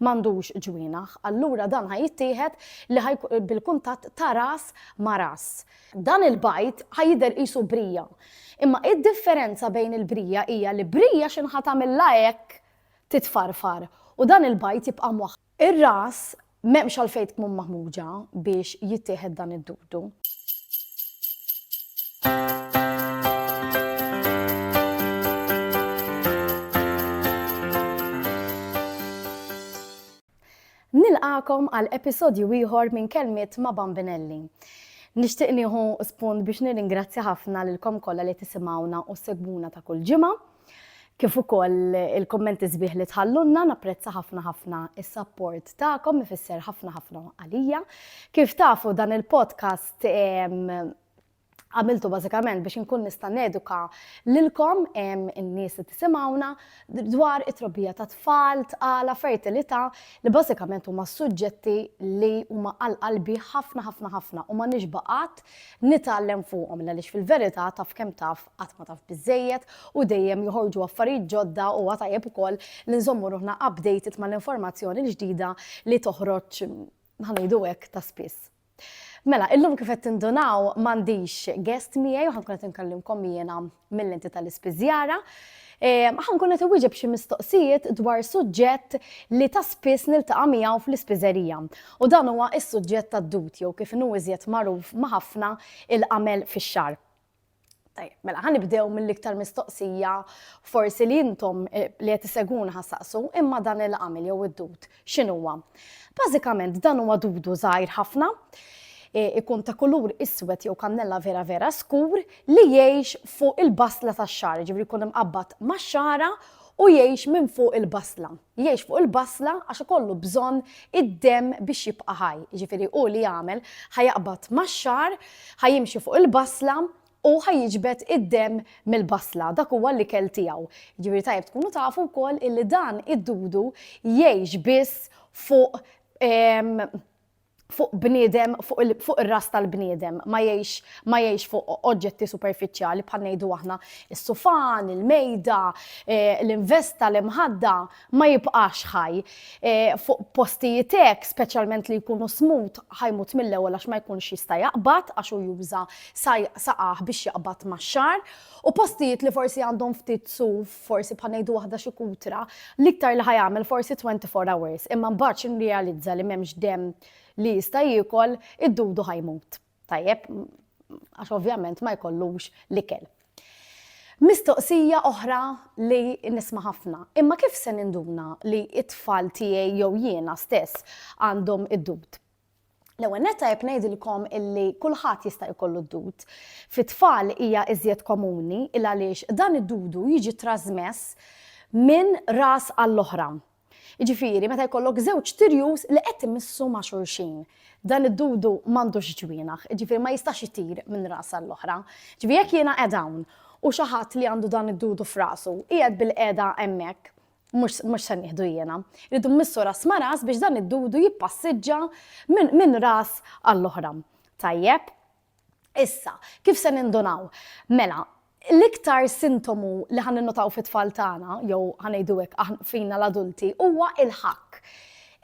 m'għandux ġwienaħ, allura dan ħa jittieħed li ħa bil-kuntatt ta' ras ma' ras. Dan il-bajd ħa jidher qisu brija. Imma id-differenza bejn il-brija hija li brija x'inhu ħa tagħmilha hekk titfarfar u dan il-bajd jibqa' mwaħħal. Ir-ras m'hemmx għalfejn tkmun maħmuġa biex jittieħed dan id-dudu. Nilqakom għal episodju ieħor minn Kelmiet ma' Bambinelli. Nixtieq nieħu spunt biex nirringrazzja ħafna lilkom kollha li tisimgħuna u segwuna ta' kull ġimgħa. kif ukoll il-kummenti sbieħ li tħallulna, napprezza ħafna ħafna is-sapport tagħkom ifisser ħafna ħafna għalija. Kif tafu dan il-podcast għamiltu bażikament biex inkun nista' neduka lilkom in-nies li tisimgħuna dwar it-trobbija ta' tfal, tqala, fertilità li bażikament huma suġġetti li huma għal qalbi ħafna ħafna ħafna u ma nixbaqat nitgħallem fuqhom għaliex fil-verità taf kemm taf qatt ma taf biżżejjed u dejjem joħorġu affarijiet ġodda huwa tajjeb ukoll li nżommu ruħna updated mal-informazzjoni l-ġdida li toħroġ ħanejdu hekk ta' spiss. Mela, illum kif qed tindunaw m'għandix guest miegħi u ħankun qed inkellimkom jiena mill-enti tal-ispiżjara. Ehm, ħankun qed iwieġeb xi mistoqsijiet dwar suġġett li ta' spiss niltaqa' miegħu fl-ispiżerija. U dan huwa s-suġġett tad-dut jew kif inhu iżjed magħruf ma' ħafna il-qamel fix-xar. Tajjeb, mela ħan nibdew mill-iktar mistoqsija forsi li intom eh, li qed iseguna ħassaqsu imma dan il-għamil jew id-dud x'inhuwa. Bażikament dan huwa dudu żgħir ħafna eh, ikun ta' kulur iswed jew kannella vera vera skur li jgħix fuq il-basla tax-xar, ġifri jkun imqabbad max-xara u jgħix minn fuq il-basla. Jgħix fuq il-basla għax ikollu bżonn id-demm biex jibqa' ħaj. Jiġifieri hu li jagħmel, ħa jaqbad max-xagħar, ħa jimxi fuq il-basla u ħa jiġbed id-demm mill-basla. Dak huwa l-ikel tiegħu. Jiġifieri tajjeb tkunu tafu wkoll illi dan id-dudu jgħix biss fuq fuq bniedem, fuq ir-ras tal-bniedem, ma jgħix ma jgħix fuq oġġetti superfiċjali bħal ngħidu aħna is-sufan, il-mejda, eh, l-investa, l-imħadda, ma jibqax ħaj. Eh, fuq postijiet hekk, speċjalment li jkunu smut, ħajmut mill-ewwel għax ma jkunx jista' jaqbad għax hu juża saqaħ biex jaqbad max-xar. U postijiet li forsi għandhom ftit suf forsi bħal ngħidu waħda xi kutra, l-iktar li ħajagħmel forsi 24 hours, imma mbagħad xi nrealizza li m'hemmx demm li jista' jiekol, id-dudu ħajmut. Tajjeb, għax ovvjament ma jkollux l-ikel. Mistoqsija oħra li nisma' ħafna. Imma kif se ninduna li it-tfal tiegħi jew jiena stess għandhom id-dud? L-ewwel nett tajjeb ngħidilkom illi kulħadd jista' jkollu d-dud. Fit-tfal hija iżjed komuni il għaliex dan id-dudu jiġi trażmess minn ras għall-oħra. Jiġifieri meta jkollok żewġ tirjus li qed imissu ma' xulxin. Dan id-dudu m'għandux ġwienaħ, jiġifieri ma jistax itir minn ras għall-oħra. Jiġifieri jekk jiena qegħda hawn u xi ħadd li għandu dan id-dudu f'rasu qiegħed bil-qiegħda hemmhekk, Mhux mhux se nieħdu jiena. Irridu mmissu ras ma' ras biex dan id-dudu jippassiġġa minn min ras għall-oħra. Tajjeb? Issa, kif se nindunaw? Mela, l-iktar sintomu li ħan ninnutaw fit-tfal tagħna, jew ħa ngħidu hekk aħn- fina l-adulti, huwa il-ħakk.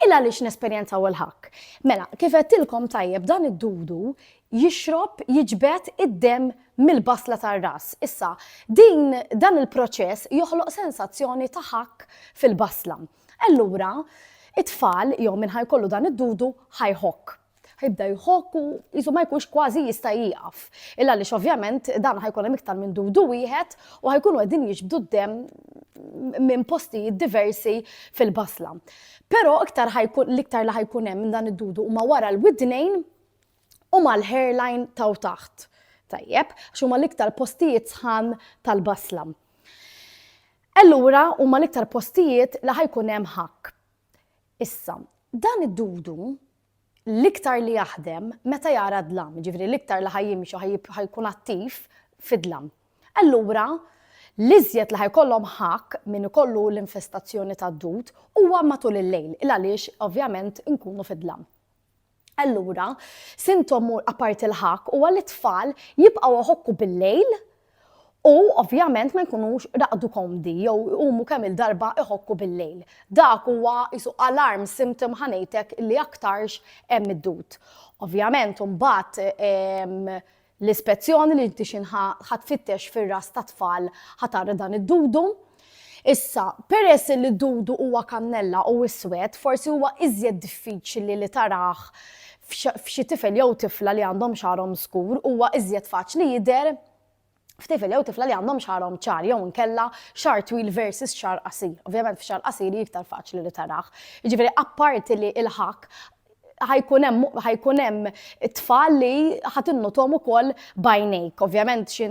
Il għaliex nesperjenzaw il-ħakk? Mela, kif għedtilkom tajjeb dan id-dudu jixrob, jiġbed, id-demm mill-basla tar-ras. Issa, din, dan il-proċess joħloq sensazzjoni ta' ħakk fil-basla. Allura, it-tfal, jew min ħa jkollu dan id-dudu, ħa jħokk. Ħa jibda jħokk u qisu ma jkunx kważi jista' jieqaf. Il għaliex ovvjament dawn ħa jkun hemm iktar minn dudu wieħed u ħa jkunu qegħdin jiġbdu d-demm minn postijiet diversi fil-basla. Però iktar ħa jkun, l-iktar li ħa jkun hemm minn dan id-dudu huma wara l-widnejn, u mal-hairline t'hawn taħt. Tajjeb, għax huma l-iktar postijiet sħan tal-basla. Allura huma l-iktar postijiet li ħajkun hemm ħakk. Issa, dan id-dudu l-iktar li jaħdem meta jara dlam, ġifri l-iktar li ħajjimxu ħajkun attiv fid-dlam. Allura, l-iżjed li ħajkollhom ħakk minn ikollu l-infestazzjoni tad-dud huwa matul il-lejl, il għaliex ovvjament inkunu fid-dlam. Allura, sintom apparti l-ħakk huwa li t-tfal jibqgħu iħokku bil-lejl u ovvjament ma jkunux raqdu komdi jew iqumu kemm il-darba iħokku bil-lejl. Dak huwa isu alarm symptom ħanejtek li aktarx hemm id-dud. Ovvjament imbagħad ehm, L-ispezzjoni li inti xi ħa tfittex fir-ras tat-tfal ħa tara dan id-dudu. Issa, peress illi d-dudu huwa kannella u iswed, forsi huwa iżjed diffiċli li tarah f'xi tifel jew tifla li għandhom xagħarhom skur, huwa iżjed faċli jidher f'tifel jew tifla li għandhom xagħarhom ċar jew inkella xagħar twil versus xagħar qasir. Ovvjament f'xagħar qasir hi iktar faċli li tarah. Jiġifieri apparti li l-ħakk ħajkun hemm ħajkun hemm tfal li ħadd innutom ukoll bajnejk. Ovvjament xi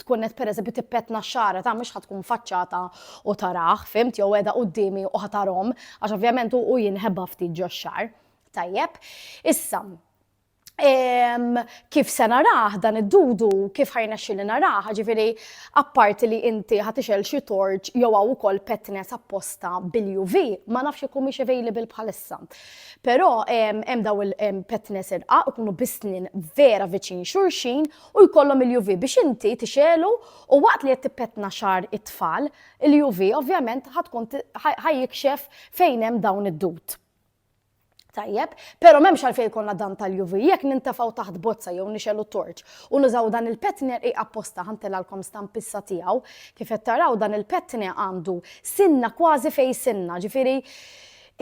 tkun qed pereżempju tippetna x-xara ta' mhux ħadd tkun faċċata u tarah, fimt jew qiegħda quddiemi u ħatarhom għax ovvjament hu jinħeba ftit ġo x-xar. Tajjeb. Issa, kif se narah dan id-dudu, kif ħajnexxi li narah, ġifiri, apparti li inti ħatixel xi torċ jew hawn ukoll petnes apposta bil-UV, ma nafx ikun mhix available bħalissa. Però hemm daw il-petnes irqaq ikunu bisnin vera viċin xulxin u jkollhom il-UV biex inti tixelu u waqt li qed tippetna xar it-tfal, il-UV ovvjament ħatkun ħajjikxef fejn hemm dawn id-dud. Tajjeb, però m'hemmx għalfejn jkollna dan tal-UV jekk nintefgħu taħt bozza jew nixelu torċ u nużaw dan il-petner hi apposta ħantilgħalkom stampissa tiegħu. Kif qed taraw dan il-petne għandu sinna kważi fejn sinna, ġifieri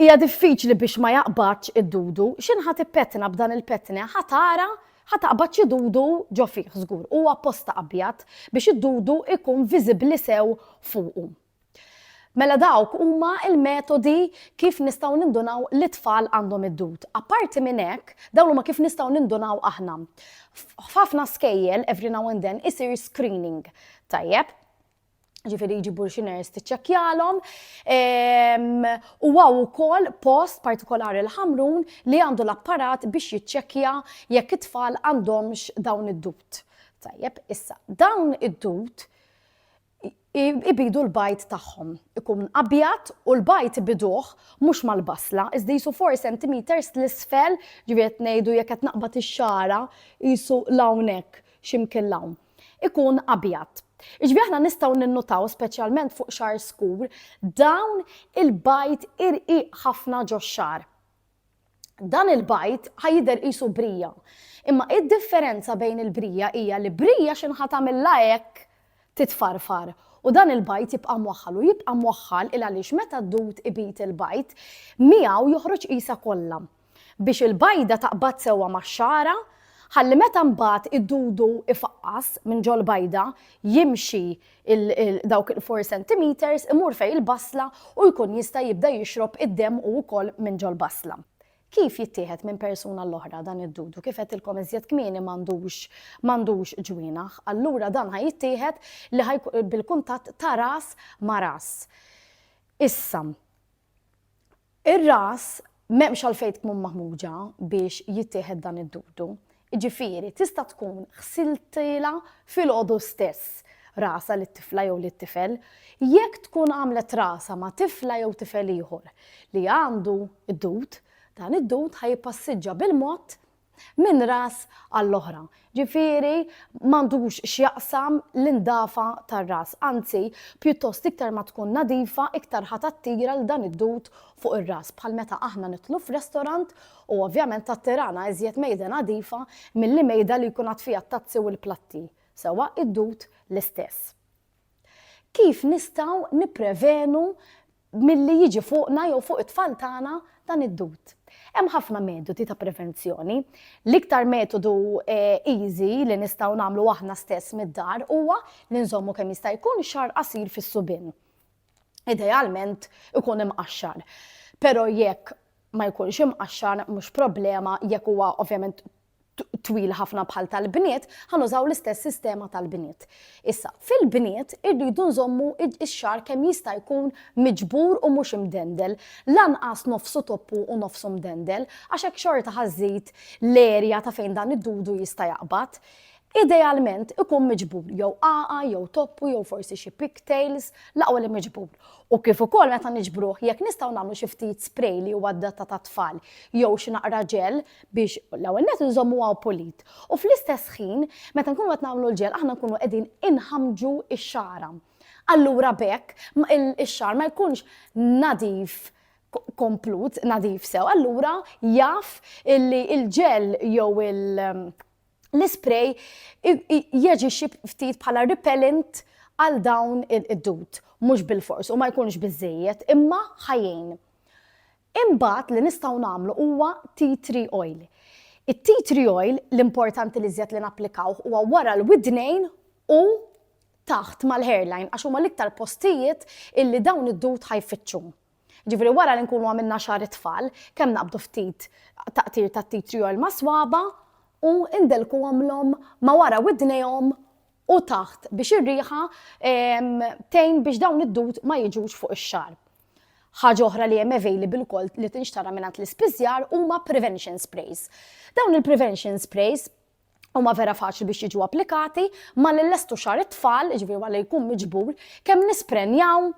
Hija diffiċli biex ma jaqbadx id-dudu. X'inhi ħa tippetna b'dan il-petne? Ħa tara, ħa taqbad xi dudu ġo fih żgur. Hu apposta abjad biex id-dudu jkun viżibbli sew fuqu. Mela dawk huma l-metodi kif nistgħu nindunaw li t-tfal għandhom id-dud. Apparti minn hekk, dawn huma kif nistgħu nindunaw aħna. F'ħafna skejjel, every now and then, isir screening. Tajjeb? ġifiri jġibu l-xiners tiċċekjalom. Ehm, u għaw ukoll post partikolari l-ħamrun li għandu l-apparat biex jiċċekkja jekk it-tfal għandhomx dawn id-dut. Tajjeb, issa, dawn id-dut ibidu l-bajt tagħhom. Ikun abjad u l-bajt ibiduh mhux mal-basla, iżda jisu 4 cm l-isfel, ġiviet ngħidu jekk qed naqbad ix-xara jisu l-hawnhekk ximkien l-hawn. ikun abjad. Iġbi aħna nistgħu ninnutaw speċjalment fuq xar skur dawn il-bajt irqiq ħafna ġox-xar. Dan il-bajt ħajder qisu brija. Imma id-differenza bejn il-brija hija li brija x'inħa tagħmilha hekk titfarfar u dan il-bajt jibqa' mwaħħal u jibqa' mwaħħal il għaliex meta d-dud ibit il-bajt miegħu joħroġ qisa kollha. Biex il-bajda taqbad sewwa max-xagħra, ħalli meta mbagħad id-dudu ifaqqas minn ġol-bajda, jimxi dawk il-four centimetres, imur fejn il-basla u jkun jista' jibda jixrob id-demm hu wkoll minn ġol-basla. Kif jittieħed minn persuna għall-oħra dan id-dudu? Kif għedtilkom iżjed kmieni m'għandux m'għandux ġwienaħ. Allura dan ħa jittieħed li ħa bil-kuntatt ta' ras ma' ras. Issa, Ir-ras m'hemmx għalfejn tkun maħmuġa biex jittieħed dan id-dudu. Jiġifieri tista' tkun ħsiltilha filgħodu stess rasha lit-tifla jew lit-tifel. Jekk tkun għamlet rasha ma' tifla jew tifel ieħor li għandu d-dud, dan id-dud ħa jippassiġġa bil-mod minn ras għall-oħra. Ġifieri m'għandux x'jaqsam l-indafa tar-ras, anzi pjuttost iktar ma tkun nadifa iktar ħa tattira 'l dan id-dud fuq ir-ras bħal meta aħna nidħlu f'restorant u ovvjament tattirana iżjed mejda nadifa milli mejda li jkun għad fiha t-tazzi u l-platti, sewwa id-dud l-istess. Kif nistgħu nipprevenu milli jiġi fuqna jew fuq it-tfal tagħna dan id-dud? Hemm ħafna metodi ta' prevenzjoni. L-iktar metodu easy li nistgħu nagħmlu aħna stess mid-dar huwa li nżommu kemm jista' jkun xagħar qasir fis-subien. Idealment ikun imqaxxar. Però jekk ma jkunx imqaxxar mhux problema jekk huwa ovvjament twil ħafna bħal tal-bniet, ħa nużaw l-istess sistema tal-bniet. Issa, fil-bniet irridu nżommu ix-xar kemm jista' jkun miġbur u mhux imdendel, lanqas nofsu toppu u nofsu mdendel, għax hekk xorta ħażid l-erja ta' fejn dan id-dudu jista' jaqbad. Idealment ikun miġbur jew qaqa, jew toppu, jew forsi xi pigtails, laqwa li miġbur. U kif ukoll meta niġbruh, jekk nistgħu nagħmlu xi ftit spray li huwa adatta tat-tfal, jew xi naqra ġel biex l-ewwel nett inżommuha pulit u fl-istess ħin meta nkunu qed nagħmlu l-ġel aħna nkunu qegħdin inħammġu x-xagħra. Allura b'hekk ix-xagħar ma jkunx nadif komplut, nadif sew, allura jaf li l-ġel jew il- l-isprej jaġixxi ftit bħala repellent għal dawn id-dud, mhux bil-fors u ma jkunx biżejjed, imma ħajjin. Imbagħad li nistgħu nagħmlu huwa tea tree oil. It-tea tree oil l-importanti l-iżjed li napplikawh huwa wara l-widnejn u taħt mal-hairline għax huma l-iktar postijiet illi dawn id-dud ħa jfittxu. Ġifieri wara li nkunu għamilna xagħar it-tfal, kemm naqbdu ftit taqtir tat-tea tree oil mas-swaba' u ndelkuhom l-hom ma' wara widnejhom u taħt biex ir-riħa tgħin biex dawn id-dud ma jiġux fuq ix-xarb. Ħaġa oħra li hemm available ukoll li tinxtara mingħand l-ispiżjar huma prevention sprays. Dawn il-prevention sprays huma vera faċli biex jiġu applikati ma li lestu xar it-tfal, ġifieri ma li jkun miġbur, kemm nisprenjaw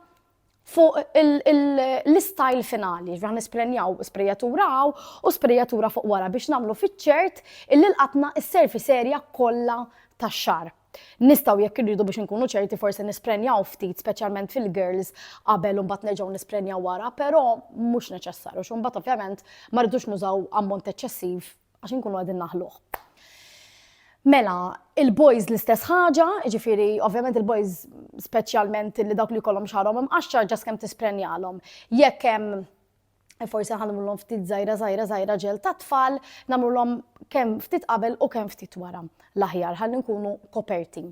fuq l-istajl finali, ġbra nisprenjaw sprejatura għaw u sprejatura fuq wara biex namlu fiċċert illi l-qatna s-serfi serja kollha tax-xar. Nistaw jekk irridu biex nkunu ċerti forsi nisprenjaw ftit speċjalment fil-girls qabel u mbagħad nerġgħu nisprenjaw wara, però mhux neċessarju x'u mbagħad ovvjament ma rridux nużaw ammont eċċessiv Għax inkunu qegħdin naħluh. Mela, il-boys l-istess ħaġa, ġifiri, ovvjament il-boys speċjalment li dawk li kollhom xarhom imqaxxar ġas kemm tisprenjalhom. Jekk hemm forsi ħanmulhom ftit żajra żajra żajra ġel ta' tfal, nagħmlulhom kemm ftit qabel u kemm ftit wara l-aħjar ħalli nkunu koperti.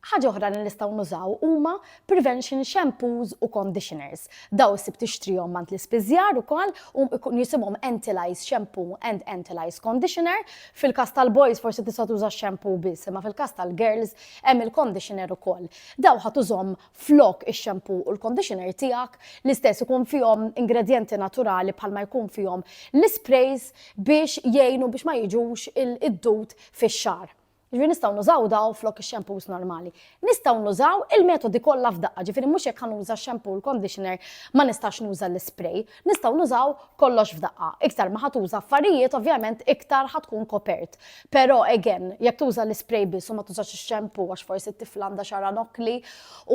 Ħaġa oħra li nistgħu nużaw huma prevention shampoos u conditioners. Dawn ssib tixtrihom għand l-ispiżjar ukoll u jkun jisimhom Antilyze Shampoo and Antilyze Conditioner. Fil-każ tal-boys forsi tista' tuża x-shampoo biss imma fil-każ tal-girls hemm il-conditioner ukoll. Dawn ħa tużhom flok ix-shampoo u l-conditioner tiegħek, l-istess ikun fihom ingredjenti naturali bħalma jkun fihom l-isprays biex jgħinu biex ma jiġux id-dud fix-xagħar. Ġifieri nistgħu nużaw daw flok ix-xampus normali. Nistgħu nużaw il-metodi kollha f'daqqa, ġifieri mhux jekk ħanuża x-xampoo u l-conditioner ma nistax nuża l-ispray, nistgħu nużaw kollox f'daqqa. Iktar ma ħatuża affarijiet ovvjament iktar ħa tkun kopert. Però again, jekk tuża l-ispray biss u ma tużax ix-xampoo għax forsi t-tifla għandha xagħarha nokkli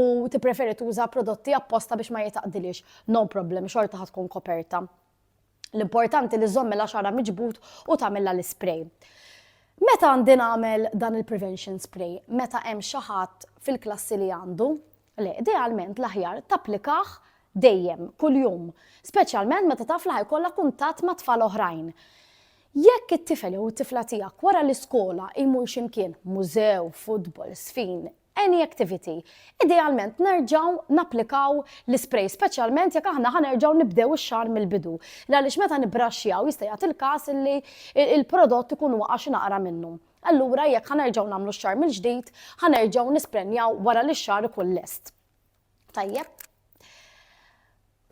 u tippreferi tuża prodotti apposta biex ma jitgħaqqdilhiex, no problem, xorta ħa tkun koperta. L-importanti li żomm mela xara miġbud u tagħmilha l-ispray. Meta għandi nagħmel dan il-prevention spray? Meta hemm xi ħadd fil-klassi li għandu? Le, idealment l-aħjar tapplikah dejjem, kuljum, speċjalment meta taf li ħajkollha kuntatt ma' tfal oħrajn. Jekk it-tifel jew it-tifla tiegħek wara l-iskola jmur x'imkien, mużew, futbol, sfin, any activity. Idealment nerġgħu napplikaw l-isprej, speċjalment jekk aħna ħa nerġgħu nibdew ix-xahar mill-bidu. Għaliex meta nibbraxxjaw jista' jagħti l-każ li l-prodott ikun waqa' xi naqra minnu. Allura jekk ħa nerġgħu nagħmlu x-xahar mill-ġdid, ħa nerġgħu nisprenjaw wara li x-xahar ikun lest. Tajjeb.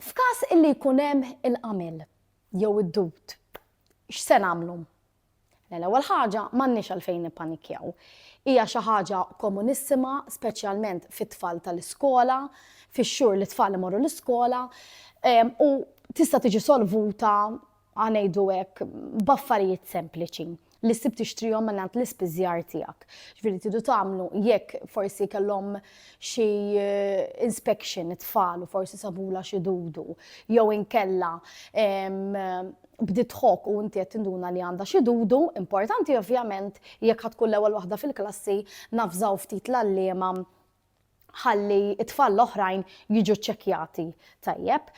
F'każ illi jkun hemm il-qamel jew id-dud, x'se nagħmlu? Mela l-ewwel ħaġa m'għandniex għalfejn nippanikkjaw. Hija xi ħaġa komunissima, speċjalment fit-tfal tal-iskola, fix-xhur li t-tfal imorru l-iskola, u tista' tiġi solvuta, ħa ngħidu hekk, b'affarijiet sempliċi li ssib tixtrihom minn għand l-ispiżjar tiegħek. Ġifieri tidu tagħmlu jekk forsi kellhom xi eh, inspection it-tfal u forsi sabula xi dudu jew inkella bdiet tħokk u inti qed tinduna li għandha xi dudu, importanti ovvjament jekk ħadd tkun l-ewwel waħda fil-klassi navżaw ftit l-għalliema ħalli it-tfal l-oħrajn jiġu ċċekkjati tajjeb.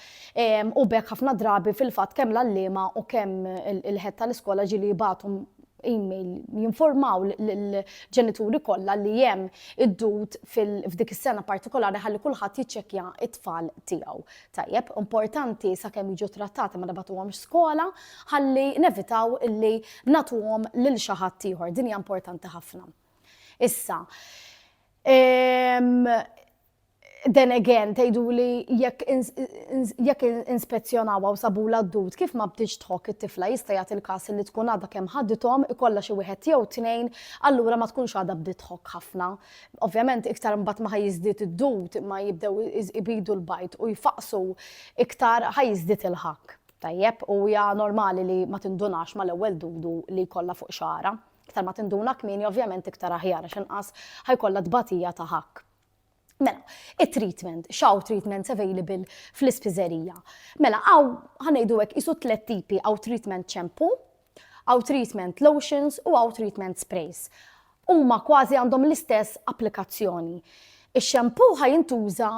U bekk ħafna drabi fil-fatt kemm l-għalliema u kemm il-ħed tal-iskola ġili jibatu email jinformaw l-ġenituri kollha li hemm id-dud f'dik is-sena partikolari ħalli kulħadd jiċċekkja it-tfal tiegħu. Tajjeb, importanti sakemm jiġu ttrattati ma nibagħtuhomx skola ħalli nevitaw illi nagħtuhom lil xi ħadd ieħor. Din hija importanti ħafna. Issa, ehm, then again, tgħidu li jekk inspezzjonawa u sabu l-addut, kif ma bdiċ tħok it-tifla jista' jagħti l-każ li tkun għadha kemm ħadithom ikollha xi wieħed jew tnejn, allura ma tkunx għadha bdiet tħok ħafna. Ovvjament iktar mbagħad ma ħajjiżdied id-dud ma jibdew ibidu l-bajd u jfaqqsu iktar ħajjiżdied il-ħakk. Tajjeb, u hija normali li ma tindunax mal-ewwel dudu li jkollha fuq xagħarha. Iktar ma tinduna kmieni ovvjament iktar aħjar għax inqas ħajkollha tbatija ta' ħakk. Mela, it-treatment, x'hawn treatments available fl-ispiżerija. Mela hawn ħanejdu hekk isu tliet tipi hawn treatment ċempu, Hawn treatment lotions u hawn treatment sprays. Huma kważi għandhom l-istess applikazzjoni. Ix-shampoo ħa jintuża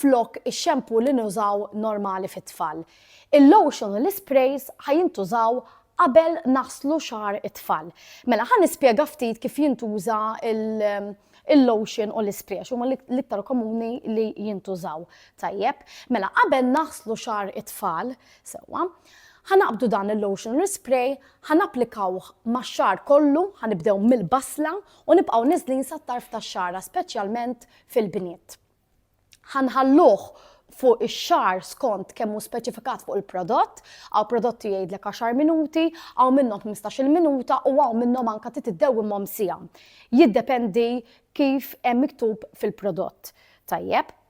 flok ix-shampoo li nużaw normali fit-tfal. Il-lotion u l-isprays ħa jintużaw qabel naħslu xagħar it-tfal. Mela ħa nispjega ftit kif jintuża l- il-lotion u l-ispray għax huma l-iktar komuni li jintużaw. Tajjeb, mela qabel naħslu xagħar it-tfal, sewwa, Ħa naqbdu dan il-lotion l-ispray, ħa napplikawh max-xagħar kollu, ħa nibdew mill-basla u nibqgħu niżlin sat-tarf tax-xagħra speċjalment fil-bniet. Ħa nħalluh fuq ix-xagħar skont kemm hu speċifikat fuq il-prodott, hawn prodotti jgħidlek għaxar minuti, hawn minnhom ħmistax-il minuta u hawn minnhom anke trid iddewwimhom siegħa. Jiddependi kif hemm miktub fil-prodott. Tajjeb.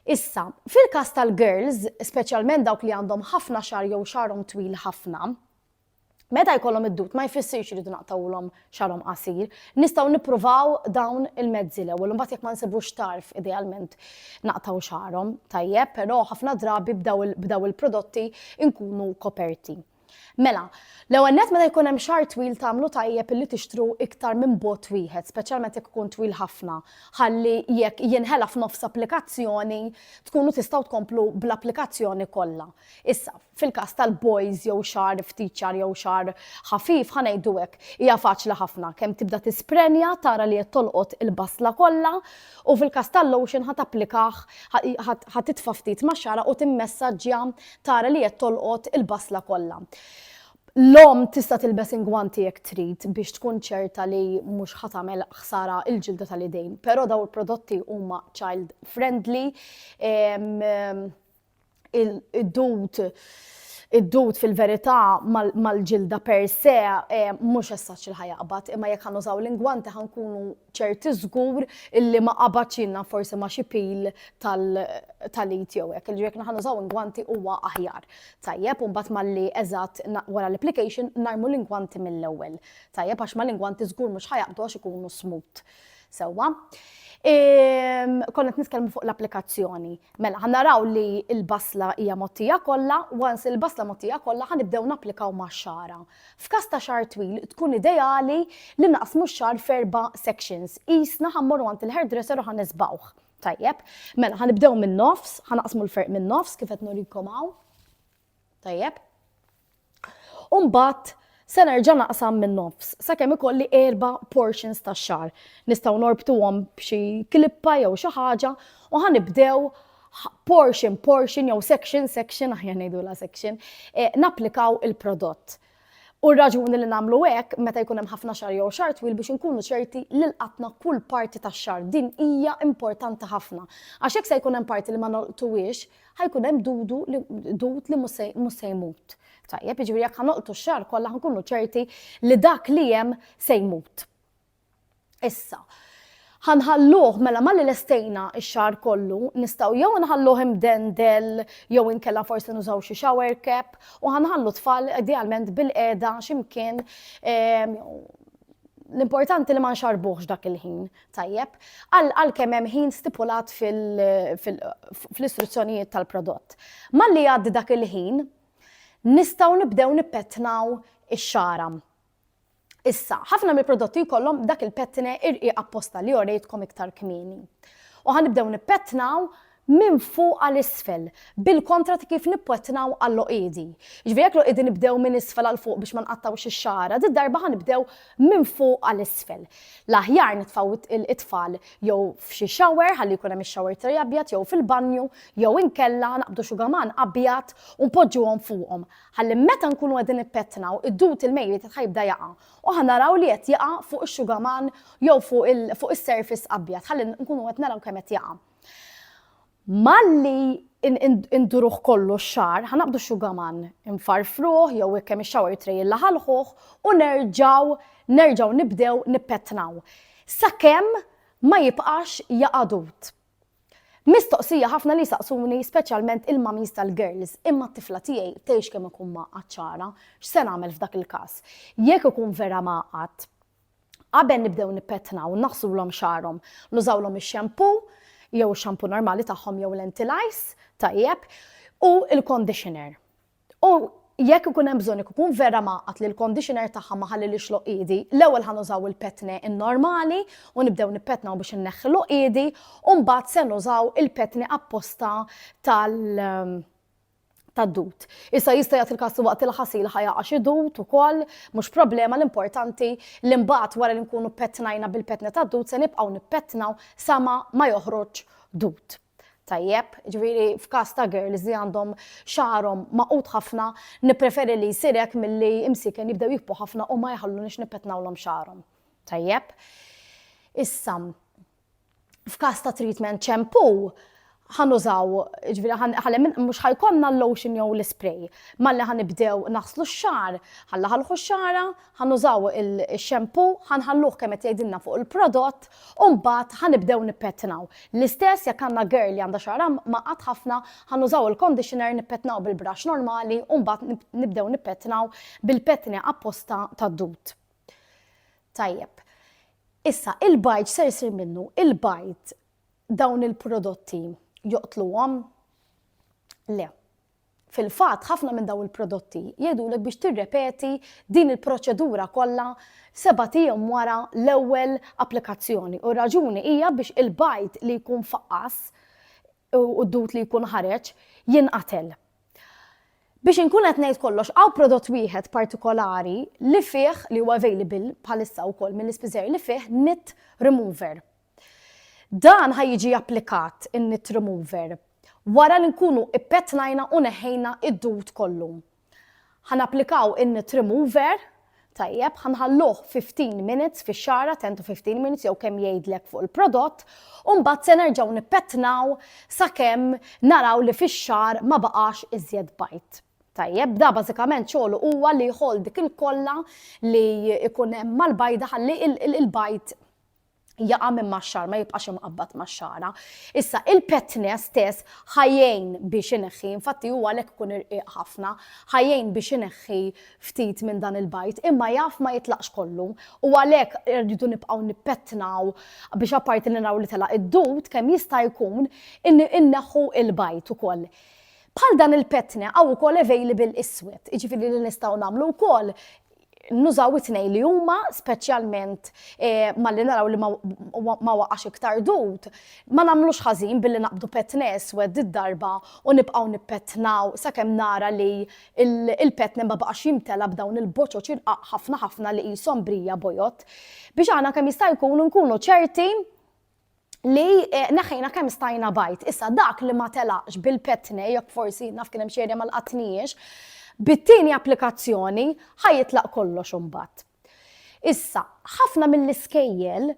Issa, fil-każ tal-girls, speċjalment dawk li għandhom ħafna xagħar jew xagħarhom twil ħafna, meta jkollhom id-dud ma jfissirx li rridu naqtgħulhom xagħarhom qasir. Nistgħu nippruvaw dawn il-mezzi l-ewwel, imbagħad jekk ma nsibux tarf idealment naqtgħu xagħarhom tajjeb, però ħafna drabi b'daw il-prodotti nkunu koperti. Mela, l-ewwel nett meta jkun hemm xahar twil tagħmlu tajjeb illi tixtru iktar minn bot wieħed, speċjalment jekk ikun twil ħafna, ħalli jekk jinħela f'nofs applikazzjoni tkunu tistgħu tkomplu bl-applikazzjoni kollha. Issa, fil-każ tal-boys jew xahar ftit ċar jew xahar ħafif, ħa ngħidu hekk, hija faċli ħafna, kemm tibda tisprenja tara li qed tolqot il-basla kollha U fil-każ tal-lotion ħa tapplikah, ħa titfa' ftit max-xagħra u timmessaġġja tara li qed tolqot il-basla kollha. L-omm tista' tilbes ingwanti jekk trid biex tkun ċerta li mhux ħa tagħmel ħsara l-ġilda tal-idejn, però dawn il-prodotti huma child friendly. id-dud id-dud fil-verità mal-ġilda per se eh, mhux essaċ il ħajaqbat, imma jekk ħanużaw l-ingwanti ħankunu ċerti żgur illi ma qabad xinna forsi ma xi pil tal-it jew hekk. Ġifieri jekk ħanużaw ingwanti huwa aħjar. Tajjeb, u mbagħad malli eżatt wara l-application narmu l-ingwanti mill-ewwel. Tajjeb għax mal-ingwanti żgur mhux ħajaqbdu għax ikunu smut. Sewwa. Konna qed nitkellmu fuq l-applikazzjoni. Mela, ħa naraw li l-basla hija mottija kollha, once il-basla mottija kollha ħa nibdew napplikaw max-xara. F'każ ta' xar twil tkun ideali li naqsmu x-xar f'erba' sections. Qisna ħa mmorru għand il-hairdresser u ħa nisbgħuh. Tajjeb. Mela, ħa nibdew min-nofs, ħa naqsmu l-ferq min-nofs kif qed nurikom hawn. Tajjeb. U mbagħad se nerġa' naqsam min-nofs sakemm ikolli erba' portions tax-xagħar. Nistgħu norbtuhom b'xi klippa jew xi ħaġa u ħa nibdew portion portion jew section section aħjar ngħidulha section, eh, napplikaw il-prodott. Hu r-raġuni li nagħmlu hekk meta jkun hemm ħafna xahar jew xahar twil biex inkunu ċerti li lqatna kull parti tax-xahar. Din hija importanti ħafna. Għax jekk se jkun hemm parti li ma nolqtuhiex, ħa jkun hemm dudu li, dud li mhux se jmut. Tajjeb, jiġifieri jekk ħa nolqtu x-xahar kollha ħa nkunu ċerti li dak li hemm se jmut. Issa, ħa nħalluh, mela malli lestejna x-xagħar kollu, nistgħu jew inħalluh imdendel jew inkella forsi nużaw xi shower cap u ħa nħallu t-tfal idealment bilqiegħda xi mkien ehm, l-importanti li ma nxarbuhx dak il-ħin, tajjeb, għal kemm hemm ħin stipulat fl-istruzzjonijiet tal-prodott. Malli jgħaddi dak il-ħin, nistgħu nibdew nippetnaw ix-xara. Issa, ħafna mill-prodotti jkollhom dak il-pettine irqiq apposta li orejtkom iktar kmieni. U ħanibdew nippettnaw minn fuq għal isfel, bil-kontra ta' kif nippettnaw għall-għoqiedi. Jiġifieri jekk l-għoqiedi nibdew minn isfel għal fuq biex ma nqattgħux ix-xagħra, did-darba ħanibdew minn fuq għal isfel. L-aħjar nitfgħu t-tfal jew f'xi shower ħalli jkun hemm ix-shower tray abjad jew fil-banju jew inkella naqbdu xugaman abjad u npoġġuhom fuqhom. ħalli meta nkunu qegħdin nippettnaw id-dud il-mejli ta' tħajbda jaqa' u ħa naraw li qed jaqa' fuq ix-xugaman jew fuq il fuq is-surface abjad ħalli nkunu qed naraw kemm qed jaqa'. Malli induruh kollu x-xagħar, ħa naqbdu x-xugaman, infarfruh jew hekk hemm ix-shower tray inlaħalħuh u nerġgħu nerġgħu nibdew nippettnaw sakemm ma jibqax jaqa' dud. Mistoqsija ħafna li jsaqsuni speċjalment il-mummies tal-girls, imma t-tifla tiegħi tgħix kemm ikun ma għatxana, x'se nagħmel f'dak il-każ? Jekk ikun vera ma għadt, qabel nibdew nippettnaw, naħsulhom xagħarhom, nużawlhom ix-xampoo, jew ix-xampoo normali tagħhom jew l-anti-lice, tajjeb, u l-conditioner. U jekk ikun hemm bżonn jekk ikun vera mgħaqqad li l-conditioner tagħha ma ħallilhiex l-għoqiedi, l-ewwel ħa nużaw il-petne n-normali u nibdew nippettnaw biex inneħħi l-għoqiedi u mbagħad se nużaw il-petni apposta tal tad-dud. Issa jista' jagħti l-każ li waqt il-ħasil ħa jaqa' xi dud ukoll, mhux problema l-importanti li mbagħad wara li nkunu pettnajna bil-petna tad-dud se nibqgħu nippettnaw sama ma joħroġ dud. Tajjeb, ġifieri f'każ ta' girls li għandhom xagħarhom magħqud ħafna, nippreferi li jsir hekk milli imsieken jibdew jikbru ħafna u ma jħalluniex nippetnawlhom xagħarhom. Tajjeb? Issa, f'każ ta' treatment ċempù, ħanużaw, ġviri ħalem mux ħajkonna l-lotion jew l-spray. Malli ħanibdew naħslu x-xar, ħalla ħalħu x-xara, Ħa nużaw ix-shampoo, ħa nħalluh kemm qed jgħidilna fuq il-prodott u mbagħad ħa nibdew nippettnaw. L-istess jekk għandna girl li għandha xagħarha mgħaqqad ħafna, ħa nużaw il-conditioner nippettnaw bil-brush normali u mbagħad nibdew nippettnaw bil-pettni apposta tad-dud. Tajjeb. Issa, il-bajd x'ser isir minnu? Il-bajd dawn il-prodotti joqtluhom? Le. Fil-fatt, ħafna minn dawn il-prodotti jgħidulek biex tirrepeti din il-proċedura kollha sebat ijiem wara l-ewwel applikazzjoni u r-raġuni hija biex il-bajd li jkun faqqas u d-dud li jkun ħareġ jinqatel. Biex inkun qed ngħid kollox, hawn prodott wieħed partikolari li fih, li huwa available bħalissa wkoll mill-ispiżer li fih nit remover. Dan ħa jiġi applikat, in-knit remover, wara li nkunu ppetnajna u neħħejna d-dud kollu. Ħa napplikaw in-knit remover, tajjeb, ħa nħalluh 15 minutes fix-xagħra, 10 to 15 minutes jew kemm jgħidlek fuq il-prodott, u mbagħad se nerġgħu nippetnaw sakemm naraw li fix-xagħar ma baqax iżjed bajd. Tajjeb, da bażikament xogħlu huwa li jħoll dik il-kolla li jkun hemm mal-bajda ħalli l-bajd jaqa' minn max-xagħar, ma jibqax imqabbad max-xagħra. Issa il-petne stess ħajjejn biex ineħħi, infatti huwa għalhekk ikun irqiq ħafna, ħajjejn biex ineħħi ftit minn dan il-bajd, imma jaf ma jitlaqx kollu. U għalhekk irridu nibqgħu nippettnaw biex apparti li naraw li telaq id-dud kemm jista' jkun inneħħu il-bajd ukoll. Bħal dan il-petne għaw ukoll available iswed, jiġifieri li nistgħu nagħmlu wkoll nużaw it-tnejn li huma speċjalment eh, malli naraw li ma waqax iktar dut, ma nagħmlux ħażin billi naqbdu petne eswed id-darba u nibqgħu nippetnaw sakemm nara li il-petne ma baqax jimtela b'dawn il-boċoċ irqaq ħafna ħafna li qishom brija bojot biex aħna kemm jista' jkun nkunu ċerti li eh, neħħejna kemm stajna bajt. Issa dak li ma telaqx bil-petne, jekk forsi naf kien hemm xi ma lqatniex, bit-tieni applikazzjoni ħajitlaq kollox imbagħad. Issa, ħafna mill-iskejjel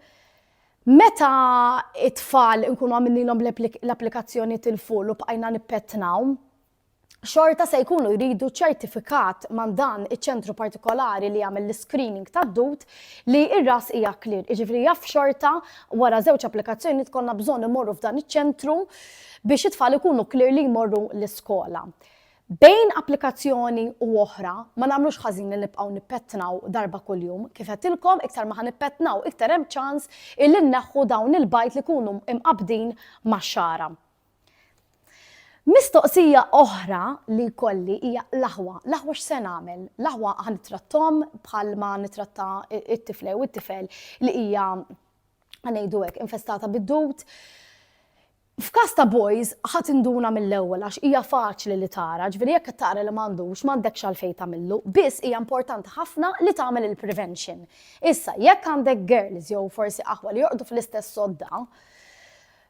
meta it-tfal nkunu għamililhom l-applikazzjoni til-ful u bqajna nippetnaw, xorta se jkunu jridu ċertifikat man dan iċ-ċentru partikolari li jagħmel l-screening tad-dud li r-ras hija clear. Jiġifieri jaf xorta wara żewġ applikazzjoni tkollna bżonn imorru f'dan iċ-ċentru biex it-tfal ikunu clear li jmorru l-iskola. Bejn applikazzjoni u oħra, ma nagħmlux ħażin li nibqgħu nippettnaw darba kuljum, kif għedtilkom iktar ma ħanippettnaw iktar hemm ċans illi nneħħu dawn il-bajd li jkunu imqabbdin max-xagħra. Mistoqsija oħra li jkolli hija l-aħwa. L-aħwa x'se nagħmel? L-aħwa ħa nittrattom bħal ma nitratta it-tifla jew it-tifel li hija ngħidu hekk infestata bid-dut. F'każ ta' boys ħadd induna mill-ewwel għax hija faċli li tara, ġifieri jekk tara li m'għandux m'għandekx għalfejn tagħmillu, biss hija importanti ħafna li tagħmel il-prevention. Issa, jekk għandek girls jew forsi aħwa li jorqdu fl-istess sodda,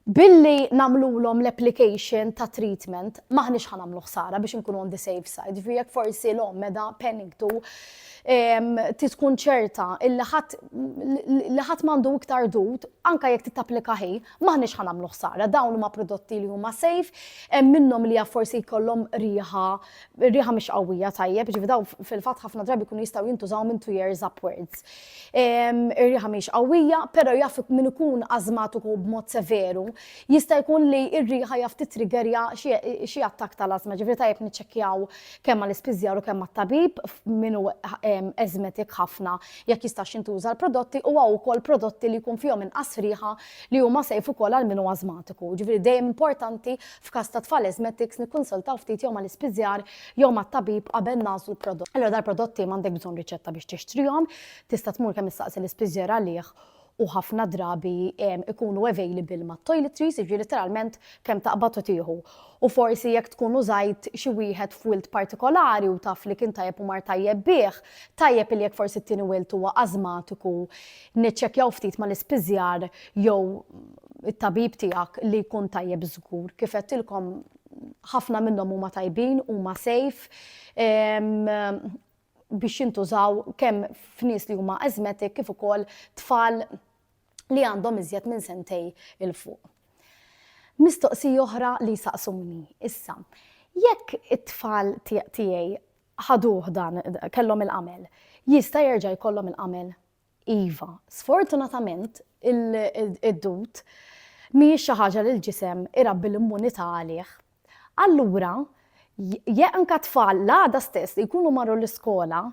Billi nagħmlulhom l-application ta' treatment m'aħniex ħa nagħmlu ħsara biex inkunu on the safe side. Ġifieri jekk forsi l-omm meda panicked u ehm, tiskun ċerta li ħadd m'għandu iktar dud, anke jekk tittapplika ħi, m'aħniex ħa nagħmlu ħsara. Dawn huma prodotti li huma safe, hemm minnhom li forsi jkollhom riħa, riħa mhix qawwija tajjeb, ġifi dawn fil-fatt ħafna drabi jkunu jistgħu jintużaw minn two years upwards. ir-riħa mhix qawwija, però jaf min ikun ażmatiku b'mod severu, jista' jkun li r-riħa jaf titriggerja xi attakk tal-ażma. Ġifieri tajjeb niċċekkjaw kemm mal-ispiżjar u kemm mat-tabib min hu eżmetik ħafna jekk jistax jintuża l-prodotti u hawn ukoll prodotti li jkun fihom inqas riħa li huma safe ukoll għal min hu ażmatiku. Ġifieri dejjem importanti f'każ ta' tfal eżmetiks nikkunsultaw ftit jew mal-ispiżjar jew mat-tabib qabel nagħżlu prodott. Allura dal-prodotti m'għandek bżonn riċetta biex tixtrihom, tista' tmur kemm issaqsi l-ispiżjer għalih u ħafna drabi ikunu available ma' toiletries, jiġri literalment kemm taqbad u tieħu. U forsi jekk tkun użajt xi wieħed f'wilt partikolari u taf li kien tajjeb u mar tajjeb bih, tajjeb li jekk forsi t-tieni wilt huwa ażmatiku, niċċekkjaw ftit mal-ispiżjar jew it-tabib tiegħek li jkun tajjeb żgur. Kif għedtilkom ħafna minnhom huma tajbin, huma safe biex jintużaw kemm f'nies li huma asthmatic kif ukoll tfal li għandhom iżjed minn sentej il fuq. Mistoqsi oħra li saqsuni issa. Jekk it-tfal tiegħi ħaduh dan kellhom il-qamel, jista' jerġa' jkollhom il-qamel? Iva, sfortunatament id-dud mhijiex xi ħaġa li l-ġisem irabbi l-immunità għalih. Allura, jekk anke tfal l-għada stess li jkunu marru l-iskola,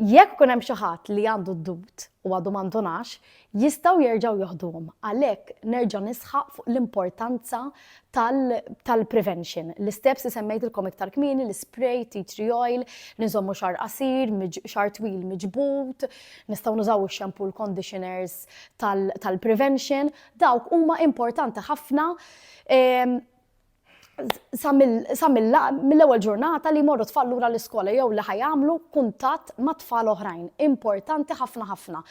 jekk ikun hemm xi ħadd li għandu d-dud u għadu ma ndunax, jistgħu jerġgħu joħduhom. Għalhekk nerġa' nisħaq fuq l-importanza tal-prevention. L-isteps li semmejtilkom iktar kmieni, l-ispray, tea tree oil, li nżommu xar qasir, xar twil miġbud, nistgħu nużaw ix-shampoo, l-conditioners tal-prevention, dawk huma importanti ħafna ehm, sa mill-ewwel ġurnata li jmorru tfal lura l-iskola jew li ħajamlu kuntatt ma' tfal oħrajn. Importanti ħafna ħafna.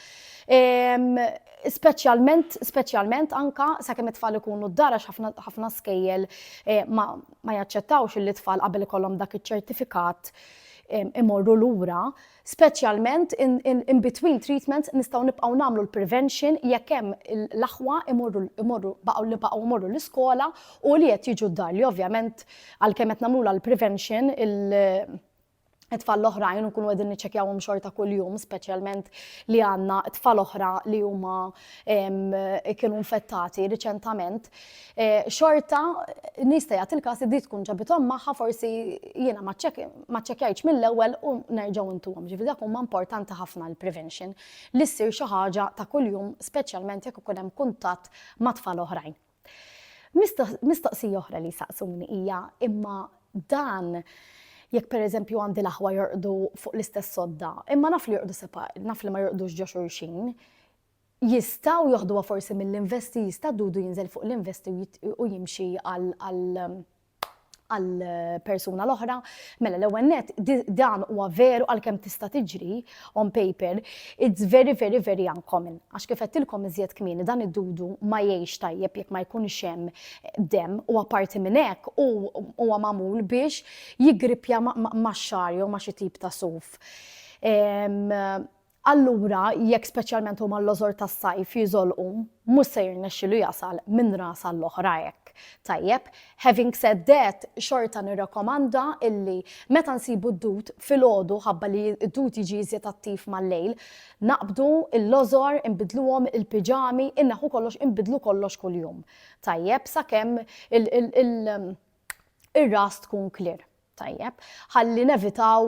Ehm, Speċjalment, speċjalment anke sakemm it-tfal ikunu d-dar għax ħafna, ħafna skejjel eh, ma, ma jaċċettawx li t-tfal qabel ikollhom dak iċ-ċertifikat eh, imorru lura, speċjalment in, in, in between treatments nistgħu nibqgħu nagħmlu l-prevention jekk hemm il- l-aħwa imorru, imorru baqgħu li baqgħu imorru l-iskola u li qed jiġu d-dar li ovvjament għalkemm qed nagħmlula l-prevention il- it-tfal l-oħrajn u nkunu qegħdin niċċekjawhom xorta kuljum, speċjalment li għandna tfal oħra li huma kienu infettati riċentament, eh, xorta nista' jagħti il-każ li tkun ġabithom magħha forsi jiena ma ċċekkjajtx mill-ewwel u nerġgħu intuhom. Ġifieri dak huma importanti ħafna l-prevention li ssir xi ħaġa ta' kuljum speċjalment jekk ikun hemm kuntatt ma' tfal oħrajn. Mistoqsija oħra li jsaqsuni hija imma dan jekk pereżempju għandi l-aħwa jorqdu fuq l-istess sodda, imma naf li jorqdu sepa, naf li ma jorqdux ġo xulxin, jistaw joħduha forsi mill-investi, jista' dudu jinżel fuq l-investi u jimxi għal għall-persuna l-oħra. Mela l-ewwel net dan huwa veru għalkemm tista' tiġri on paper, it's very very very uncommon. Għax kif qedtilkom iżjed kmieni dan id-dudu ma jgħix tajjeb jekk ma jkunx hemm demm u apparti minn hekk hu huwa magħmul biex jiggrippja max-xagħar jew ma' xi tip ta' suf. Allura, jekk speċjalment huma l-lożor tas-sajf jiżolqu, mhux se jirnexxilu jasal minn ras għall-oħra hekk. Tajjeb, having said that, xorta nirrakomanda illi meta nsibu d-dud filgħodu ħabba li d-dud jiġi iżjed attiv mal-lejl, naqbdu l-lożor, inbiddluhom il-piġami, inneħħu kollox, inbiddlu kollox kuljum. Tajjeb, sakemm ir-ras tkun clear. Tajjeb, ħalli nevitaw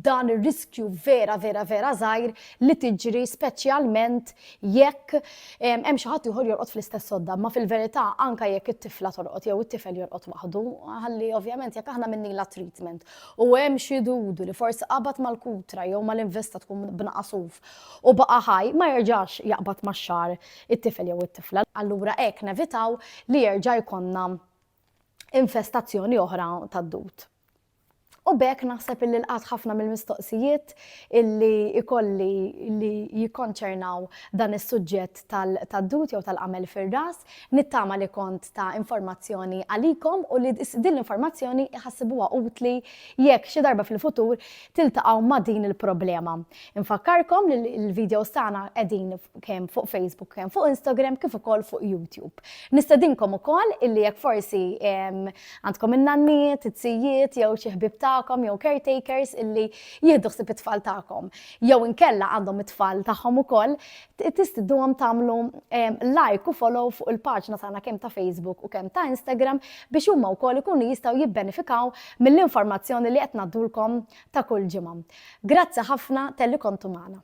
dan ir-riskju vera vera vera żgħir li tiġri speċjalment jekk hemm xi ħadd ieħor jorqod fl-istess sodda, ma fil-verità anke jekk it-tifla torqod jew it-tifel jorqod waħdu, ħalli ovvjament jekk aħna minnila treatment u hemm xi dudu li forsi qabad mal-kutra jew mal-investa tkun b'naqasuf u baqa' ħaj ma jerġax jaqbad max-xagħar it-tifel jew it-tifla. Allura hekk nevitaw li jerġa' jkollna infestazzjoni oħra tad-dud. U bekk naħseb illi lqat ħafna mill-mistoqsijiet illi ikolli li jikkonċernaw dan is-suġġett tad-dut jew tal-qamel fir-ras, nittama li kont ta' informazzjoni għalikom u li din l-informazzjoni jħassibuha utli jekk xi darba fil-futur tiltaqgħu ma' din il-problema. Infakkarkom li l-videos tagħna qegħdin kemm fuq Facebook, kemm fuq Instagram, kif ukoll fuq YouTube. Nistedinkom ukoll illi jekk forsi għandkom in-nanniet, it-sijiet, jew xi ħbib tagħkom, jew caretakers illi jieħdu ħsib it-tfal tagħkom. Jew inkella għandhom it-tfal tagħhom ukoll, Tistidnuhom tagħmlu like u follow fuq il-paġna tagħna kemm ta' Facebook u kemm ta' Instagram biex huma wkoll ikunu jistgħu jibbenefikaw mill-informazzjoni li qed ngħaddulkom ta' kull ġimgħa. Grazzi ħafna telli kontu magħna.